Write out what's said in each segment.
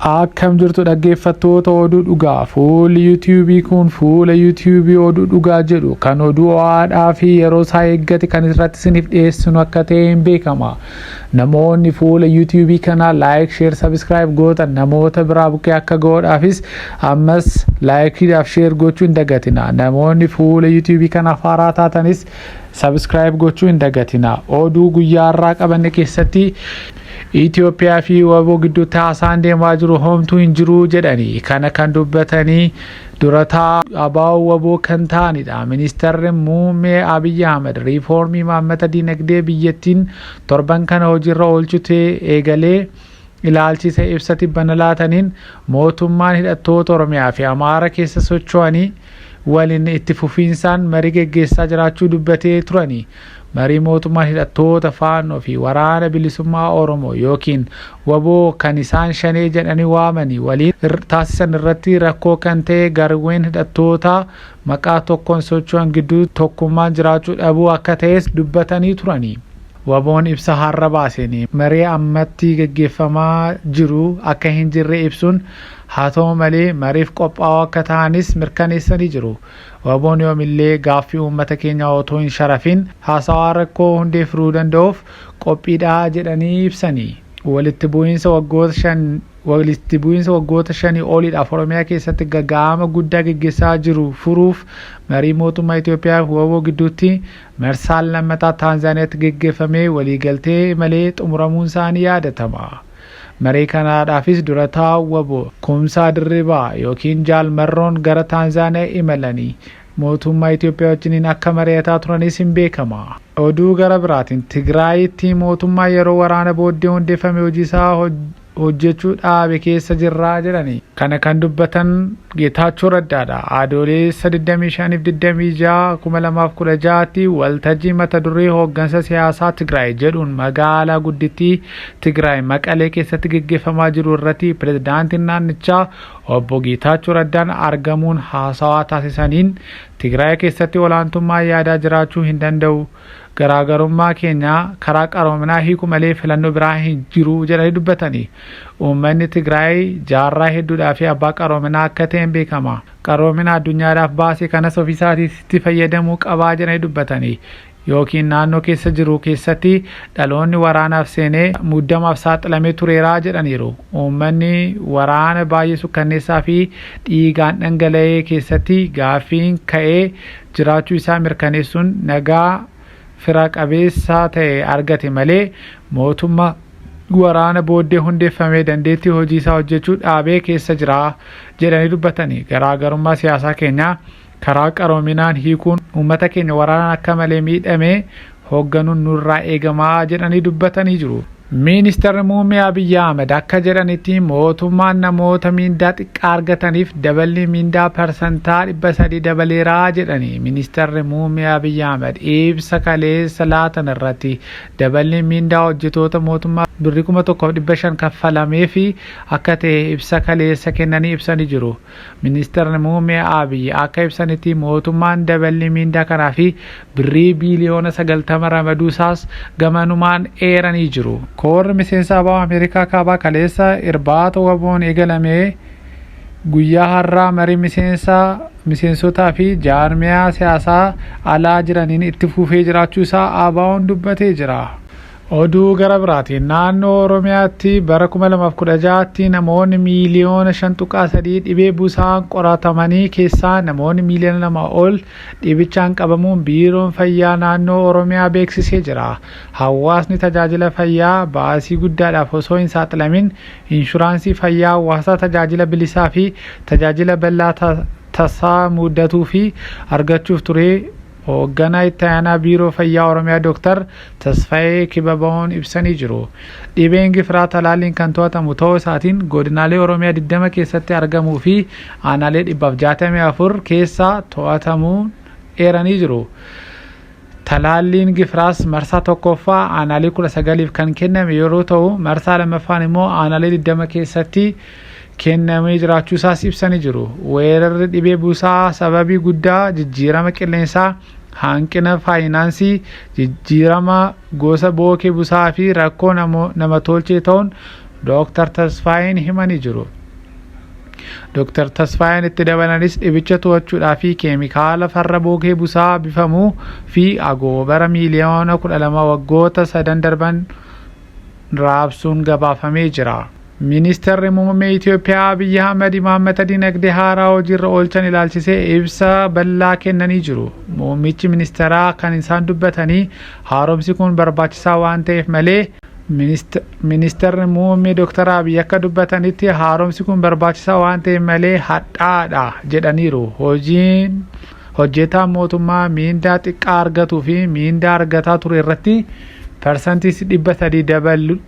Akkam jirtu dhaggeeffattoota oduu dhugaa fuulli yuutiyuubii kun fuula yuutiyuubii oduu dhugaa jedhu kan oduu ho'aadhaa fi yeroo isaa eeggate kan irratti isiniif dhiyeessinu akka ta'e hin beekama. Namoonni fuula yuutiyuubii kanaa laayik sheer sabiskiraayib gootan namoota biraa bukkee akka ga'oodhaafis ammas laayikiidhaaf sheer gochuu hin dagatina. Namoonni fuula yuutiyuubii kanaaf haaraa taatanis sabiskiraayib gochuu hin dagatina. Oduu guyyaa har'aa qabanne keessatti Itoophiyaa fi wbo gidduutti haasaan deemaa jiru homtuu hin jiru jedhanii kana kan dubbatanii dura taa'aa ABO wbo kan ta'anidha. Ministarri Muummee Abiy Ahmed riifoormii imaammata dinagdee biyyattiin torban kana hojiirra oolchute eegalee ilaalchise ibsa tibbana laataniin mootummaan hidhattoota Oromiyaa fi Amaara keessa socho'anii waliin itti fufiinsaan marii geggeessaa jiraachuu dubbatee turani. Marii mootummaan hidhattoota Faannoo fi Waraana Bilisummaa Oromoo ykn wbo kan isaan Shanee jedhanii waamanii waliin taasisan irratti rakkoo kan ta'e garwween hidhattootaa maqaa tokkoon socho'an gidduu tokkummaan jiraachuu dhabuu akka ta'es dubbatanii turani. Wboon ibsa har'a baaseen marii ammatti gaggeeffamaa jiru akka hin jirre ibsuun, haa ta'u malee mariif qophaa'oo akka ta'anis mirkaneessanii jiru. Waboon yoomillee gaaffii uummata keenyaa otoo hin sharafin haasawaa rakkoo hundee furuu danda'uuf qophiidha jedhanii ibsani. Walitti bu'iinsa waggoota shan Walitti bu'iinsa waggoota shanii oliidhaaf Oromiyaa keessatti gaga'ama guddaa geggessaa jiru furuuf marii mootummaa Itoophiyaa fi wbo gidduutti marsaan lammataa Taanzaaniyaatti geggeffamee waliigaltee malee xumuramuunsaa ni yaadatama. Marii kanaadhaafis dura taa'aan wbo Kumsaa Dirribaa ykn Jaal Marroon gara Taanzaaniyaa imalanii mootummaa Itoophiyaa wajjiniin akka mari'ataa turanis hin beekama. Oduu gara biraatiin Tigraayitti mootummaa yeroo waraana booddee hundeeffame hojiisaa hojjechuu dhaabe keessa jirra jedhani. Kana kan dubbatan Geetaachoo Raddaadha. Adoolessa 25 fi 26 2016tti waltajjii mata duree hooggansa siyaasaa Tigraay jedhuun magaalaa guddittii Tigraay Maqalee keessatti geggeeffamaa jiru irratti pirezidaantiin naannichaa obbo Geetaachoo Raddaan argamuun haasawaa taasisaniin Tigraay keessatti olaantummaa yaadaa jiraachuu hin danda'u garaagarummaa keenya karaa qaroominaa hiiku malee filannoo biraa hin jiru jedhanii dubbatanii uummanni Tigraay jaarraa hedduudhaa fi abbaa qaroominaa akka ta'een beekama. Qaroomina addunyaadhaaf baase kanas ofiisaatiitti fayyadamuu qabaa jedhanii dubbatanii yookiin naannoo keessa jiru keessatti dhaloonni waraanaaf seenee muddamaaf saaxilamee tureeraa jedhaniiru. Uummanni waraana baay'ee sukkanneessaa fi dhiigaan dhangala'ee keessatti gaaffiin ka'ee jiraachuu isaa mirkaneessuun nagaa fira qabeessaa ta'e argate malee mootumma waraana booddee hundeeffamee dandeettii hojii isaa hojjechuu dhaabee keessa jira jedhanii dubbatanii garaagarummaa siyaasaa keenyaa karaa qaroominaan hiikuun uummata keenya waraanaan akka malee miidhame hoogganuun nurraa eegama jedhanii dubbatanii jiru. Ministarri Muummee Abiyyi Ahmed akka jedhanitti mootummaan namoota miindaa xiqqaa argataniif daballii miindaa parsantaa 300 dabaleera jedhanii Ministarri Muummee Abiyyi Ahmed ibsa kaleessa laatan irratti daballiin miindaa hojjetoota mootummaa birrii 1500 kaffalameefi akka ta'e ibsa kaleessa kennanii ibsanii jiru. Ministirri Muummee Abiy akka ibsanitti mootummaan daballii miindaa kanaa fi birrii biiliyoona 90 ramaduu isaas gamanumaan eeranii jiru. Koorri miseensa abo Ameerikaa Kaabaa kaleessa irbaata waboon eegalame guyyaa har'aa marii miseensa miseensotaa fi jaarmiyaa siyaasaa alaa jiraniin itti fufee jiraachuu isaa ABOn dubbatee jira. Oduu gara biraatiin naannoo Oromiyaatti bara 2016tti namoonni miiliyoona 5.3 dhibee busaan qoratamanii keessaa namoonni miiliyoona 2 ol dhibichaan qabamuun biiroon fayyaa naannoo Oromiyaa beeksisee jira. Hawaasni tajaajila fayyaa baasii guddaadhaaf osoo hin saaxilamin inshuraansii fayyaa hawaasaa tajaajila bilisaa fi tajaajila bal'aa tasaa mudatuu fi argachuuf turee Hoogganaa Itti Aanaa Biiroo Fayyaa Oromiyaa Dooktar Tasfayee Kibabawoon ibsanii jiru. Dhibeen gifiraa talaalliin kan to'atamu ta'uu isaatiin godinaalee Oromiyaa 20 keessatti argamuu fi aanaalee 164 keessaa to'atamuu eeranii jiru. Talaalliin gifiraas marsaa tokkoffaa aanaalee 19f kan kenname yeroo ta'u, marsaa lammaffaan immoo aanaalee 20 keessatti kennamee jiraachuu isaas ibsanii jiru. Weerarri dhibee busaa sababii guddaa jijjiirama qilleensaa, hanqina faayinaansii, jijjiirama gosa bookee busaa fi rakkoo nama tolchee ta'uun Dooktar Tasfaayeen himanii jiru. Dooktar Tasfaayeen itti dabalanis dhibicha to'achuudhaa fi keemikaala farra bookee busaa bifamu fi agoobara miiliyoona 12 waggoota sadan darban raabsuun gabaafamee jira. Ministeerri Muummee Itoophiyaa Abiyyi Ahmad imaammata dinagdee haaraa hojiirra oolchan ilaalchisee ibsa bal'aa kennanii jiru. Muummichi ministeeraa kan isaan dubbatanii haaromsi kun barbaachisaa waan ta'eef malee Ministeerri Muummee Dr. Abiy akka dubbatanitti haaromsi kun barbaachisaa waan ta'eef malee hadhaadha jedhaniiru. Hojiin hojjetaan mootummaa miindaa xiqqaa argatuu fi miindaa argataa ture irratti parsantii dhibba sadii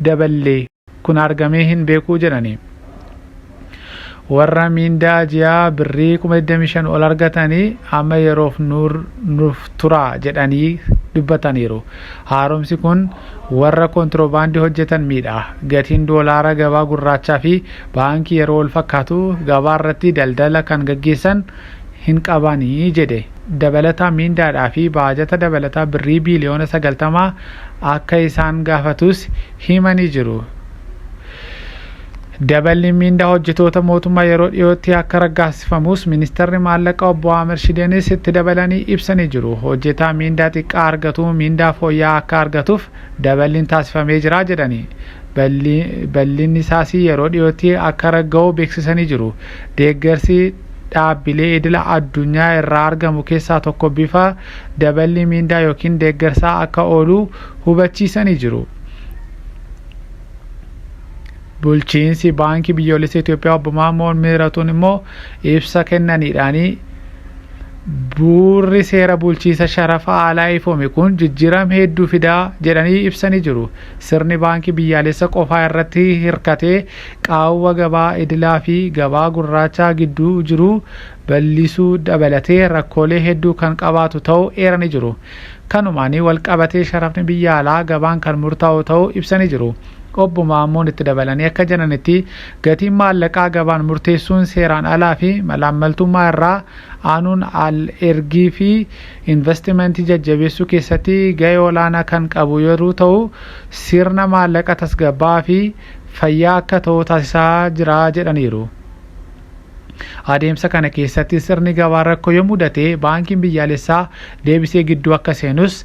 daballee. kun argamee hin beekuu jedhani. Warra miindaa ji'aa birrii kuma 25 ol argatanii amma yeroof nuuf turaa jedhanii dubbataniiru. Haaromsi kun warra kontirobaandii hojjetan miidha. Gatiin doolaara gabaa gurraachaa fi baankii yeroo wal fakkaatu gabaa irratti daldala kan gaggeessan hin qabanii jedhe. Dabalataa miindaadhaa fi baajata dabalataa birrii biiliyoona 90 akka isaan gaafatus himanii jiru. Daballiin miindaa hojjetoota mootummaa yeroo dhiyootti akka raggaasifamus ministarri maallaqa obbo Ahmed Shideenis itti dabalanii ibsanii jiru. Hojjetaa miindaa xiqqaa argatu miindaa fooyya'aa akka argatuuf daballiin taasifamee jira jedhanii balliin isaas yeroo dhiyootti akka ragga'u beeksisanii jiru. Deeggarsi dhaabbilee idila addunyaa irraa argamu keessaa tokko bifa daballii miindaa yookiin deeggarsaa akka oolu hubachiisanii jiru. Bulchiinsi Baankii Biyyoolessa Itoophiyaa obbo Maammoo Miiratuun immoo ibsa kennaniidhaanii buurri seera bulchiinsa sharafa alaa ifoome kun jijjiiram hedduu fidaa jedhanii ibsanii jiru. Sirni baankii biyyaalessa qofaa irratti hirkatee qaawwa gabaa idilaa fi gabaa gurraachaa gidduu jiru bal'isuu dabalatee rakkoolee hedduu kan qabaatu ta'uu eeranii jiru. Kanumaan walqabatee sharafni biyya alaa gabaan kan murtaa'u ta'uu ibsanii jiru. Obbo Maammoon itti dabalanii akka jedhanitti, gatiin maallaqaa gabaan murteessuun seeraan alaa fi malaammaltummaa irraa aanuun al ergii fi invastimantii jajjabeessuu keessatti ga'ee olaanaa kan qabu yeruu ta'u, sirna maallaqa tasgabbaa'aa fi fayyaa akka ta'u taasisaa jira jedhaniiru. Adeemsa kana keessatti sirni gabaa rakkoo yoo mudate baankiin biyyaalessaa deebisee gidduu akka seenus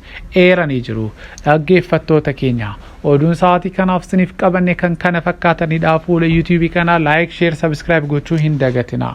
eeranii jiru. Dhaggeeffattoota keenya oduun sa'aatii kanaaf siniif qabanne kan kana fakkaatanidha. Fuula YouTube kanaa like, share, subscribe gochuu hin dagatinaa.